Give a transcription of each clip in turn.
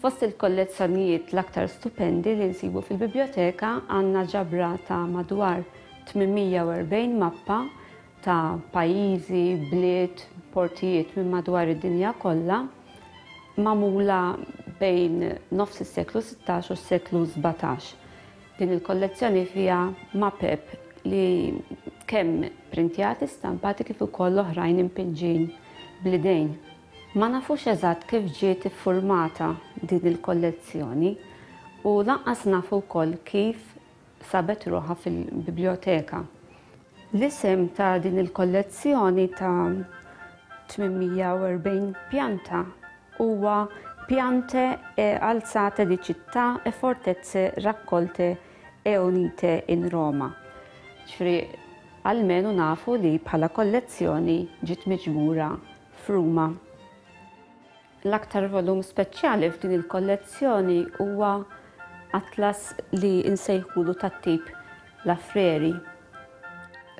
Fost il-kollezzjonijiet l-aktar stupendi li nsibu fil-biblioteka għandna ġabra ta' madwar 840 mappa ta' pajjiżi, bliet, portijiet minn madwar id-dinja kollha, magħmula bejn nofs is-seklu sittax u s-seklu sbatax. Din il-kollezzjoni fiha mapep li kemm printjati, stampati kif ukoll oħrajn impinġin bl-idejn. Ma nafux eżatt kif ġiet iffurmata din il-kollezzjoni u lanqas nafu wkoll kif sabet ruħha fil-bibljoteka. L-isem ta' din il-kollezzjoni ta' 840 pjanta huwa Piante e alzate di città e fortezze raccolte e unite in Roma. Ġifri, għalmenu nafu li bħala kollezzjoni ġiet miġmura f'Ruma. L-aktar volum speċjali f'din il-kollezzjoni huwa atlas li nsejħulu tat-tip La Freri.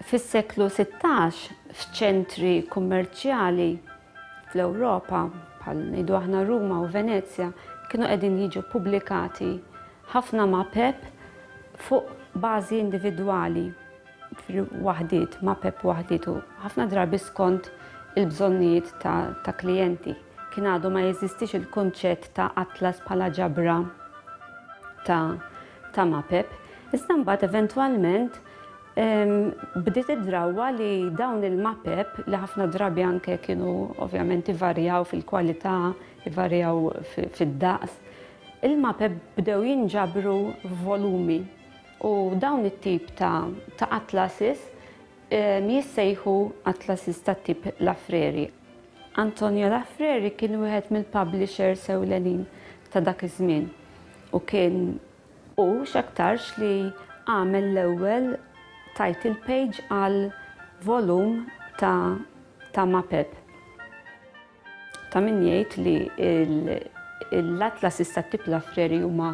Fis-seklu sittax, f'ċentri kummerċjali fl-Ewropa, bħal ngħidu aħna Ruma u Venezja, kienu qegħdin jiġu ppubblikati ħafna mapep fuq bażi individwali. waħdiet, ma' PEP waħdiet u ħafna drabi skont il-bżonnijiet ta' klijenti. Kien għadu ma jeżistix il-kunċett ta' atlas bħala ġabra ta' ma' PEP, iżda mbagħad eventwalment bdiet id-drawwa li dawn il-ma' PEP li ħafna drabi anke kienu ovvjament ivarjaw fil-kwalità, ivarjaw fid-daqs, il-ma' PEP bdew jinġabru f'volumi U dawn it-tip ta' ta' atlases jissejħu atlases tat-tip Lafreri. Antonio Lafreri kien wieħed mill-publishers ewlenin ta' dak iż-żmien u kien hu x'aktarx li għamel l-ewwel title page għal volum ta' ta' Mapeb. Ta' min jgħid li l-atlasis tat-tip Lafreri huma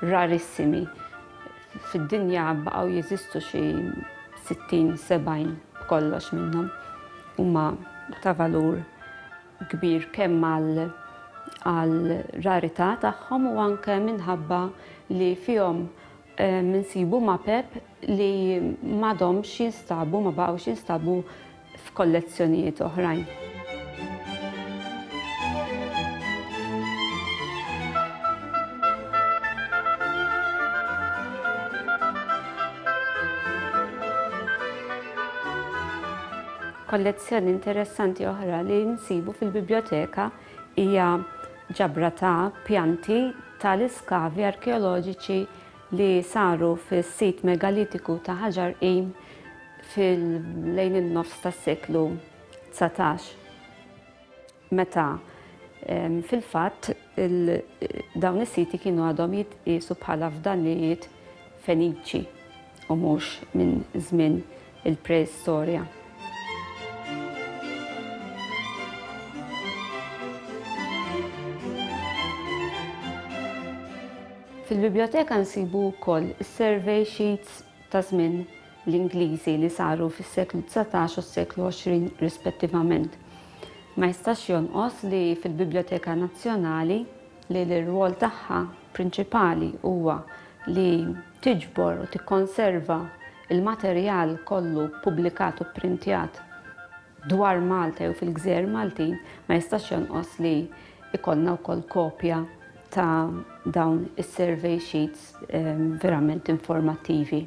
rarissimi. Fid-dinja baqgħu jeżistu xi 60-70 b'kollox minnhom. Huma ta' valur kbir kemm għal rarità tagħhom u anke minħabba li fihom Insibu mapep li m'għadhomx jinstabu, ma baqgħux jinstabu f'kollezzjonijiet oħrajn. Kollezzjoni interessanti oħra li nsibu fil-bibljoteka Hija ġabra ta' pjanti tal-iskavi arkeoloġiċi li saru fis-sit megalitiku ta' Hajar Qim fil lejn in-nofs tas-seklu dsatax meta fil-fatt dawn is-siti kienu għadhom jitqiesu bħala fdalijiet Feniċi. u mhux minn żmien il-preistorja. Fil-biblioteka nsibu wkoll is-survey sheets ta' żmien l-Ingliżi li saru fis-seklu dsatax u s-seklu għoxrin rispettivament. Ma jistax jonqos li fil-Biblioteka Nazzjonali li l-irwol tagħha prinċipali huwa li tiġbor u tikkonserva l-materjal kollu ppubblikat u pprintjat dwar Malta jew fil-gżejjer Maltin, ma jistax jonqos li jkollna wkoll kopja ta' dawn is-survey sheets ehm, verament informattivi.